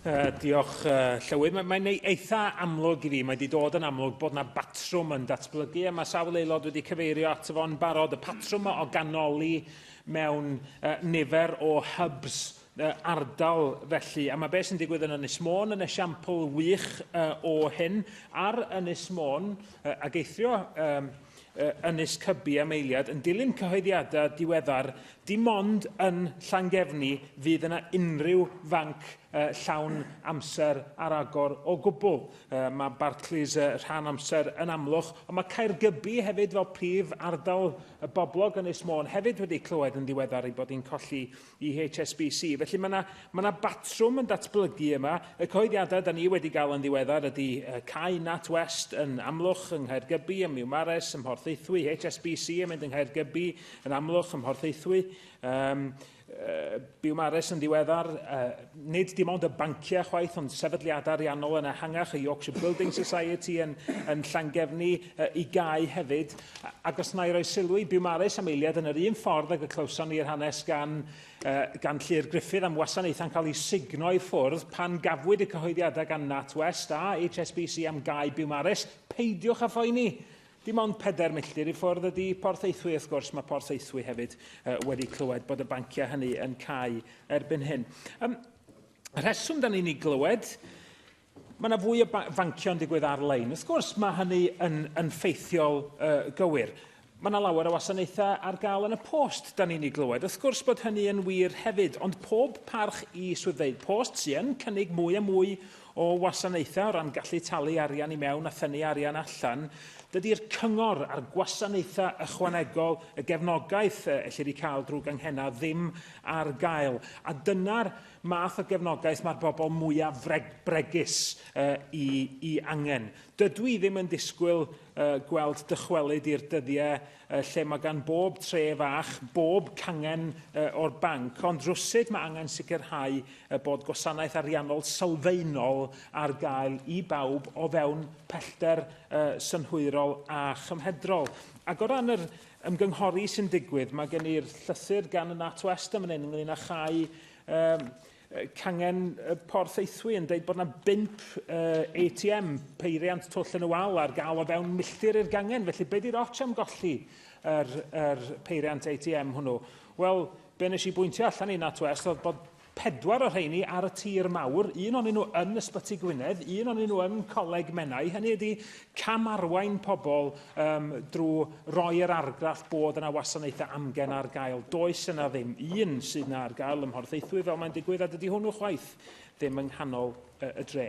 Uh, diolch, uh, Llywydd. Mae'n mae eitha amlwg i fi, mae wedi dod yn amlwg bod yna batrwm yn datblygu, a mae sawl aelod wedi cyfeirio ato fo'n barod, y patrwm o ganoli mewn uh, nifer o hubs uh, ardal felly. A mae beth sy'n digwydd yn Ynys Môn yn esiampl wych uh, o hyn. Ar Ynys Môn, uh, ag eithrio um, Ynys Cybi am eiliad yn dilyn cyhoeddiadau diweddar Dim ond yn Llangefni fydd yna unrhyw fanc llawn amser ar agor o gwbl. Mae Barclays rhan amser yn Amlwch, ond mae Caergybi hefyd fel prif ardal boblog Ynys Môn hefyd wedi clywed yn ddiweddar ei bod hi'n colli i HSBC. Felly mae yna, mae yna batrwm yn datblygu yma. Y cyhoeddiadau da ni wedi gael yn ddiweddar ydy Cai Nat West yn Amlwch yng Nghaergybi, ym Miwmares, ym Mhorthaethwy, HSBC yn mynd yng Nghaergybi, Yn amlwg, ym Mhorthaethwy, um, uh, byw Mares yn ddiweddar, uh, nid dim ond y banciau chwaith, ond sefydliadau ariannol yn ehangach, y Yorkshire Building Society yn, yn Llangefni, uh, i gau hefyd. Ac os na i roi sylw i byw Mares am eiliad yn yr un ffordd ag y clywson ni'r hanes gan, uh, gan Llyr Griffith am wasanaethau'n cael ei signo i ffwrdd pan gafwyd y cyhoeddiadau gan NatWest a HSBC am gau byw Mares, peidiwch a phoeni. Dim ond pedair milltir i ffwrdd ydy Porth Eithwy, wrth gwrs, mae Porth Eithwy hefyd uh, wedi clywed bod y banciau hynny yn cael erbyn hyn. Um, y rheswm da ni'n ei glywed, mae yna fwy o fanciau'n digwydd ar-lein. Wrth gwrs, mae hynny yn, yn ffeithiol uh, gywir. Mae yna lawer o wasanaethau ar gael yn y post, da ni'n ei glywed. Wrth gwrs bod hynny yn wir hefyd, ond pob parch i swyddfeydd post sy'n cynnig mwy a mwy o wasanaethau o ran gallu talu arian i mewn a thynnu arian allan, dydy'r cyngor a'r gwasanaethau ychwanegol, y gefnogaeth y ellir ei cael drwy ganghennau ddim ar gael. A dyna'r math o gefnogaeth mae'r bobl mwyaf bregus i, i angen. Dydw i ddim yn disgwyl gweld dychwelyd i'r dyddiau lle mae gan bob tre fach, bob cangen o'r banc, ond rywsut mae angen sicrhau y bod gwasanaeth ariannol sylfaenol ar gael i bawb o fewn pellter synhwyrol a chymhedrol. Ac o ran yr ymgynghori sy'n digwydd, mae gen i'r llythyr gan y NatWest yn fan hyn ynglyn â chau cangen Porth Eithwy yn dweud bod yna bimp uh, ATM peiriant twll yn y wal ar gael o fewn milltir i'r gangen. Felly, be di'r ots am golli yr, yr peiriant ATM hwnnw? Wel, be nes i bwyntio allan i Nat West oedd bod pedwar o rheini ar y tir mawr, un o'n nhw yn Ysbyty Gwynedd, un o'n nhw yn Coleg Menai. Hynny ydy cam arwain pobl um, drwy roi yr argraff bod yna wasanaethau amgen ar gael. Does yna ddim un sydd yna ar gael ym Mhorthaethwy fel mae'n digwydd, a dydy hwnnw chwaith ddim yng nghanol y, y dre.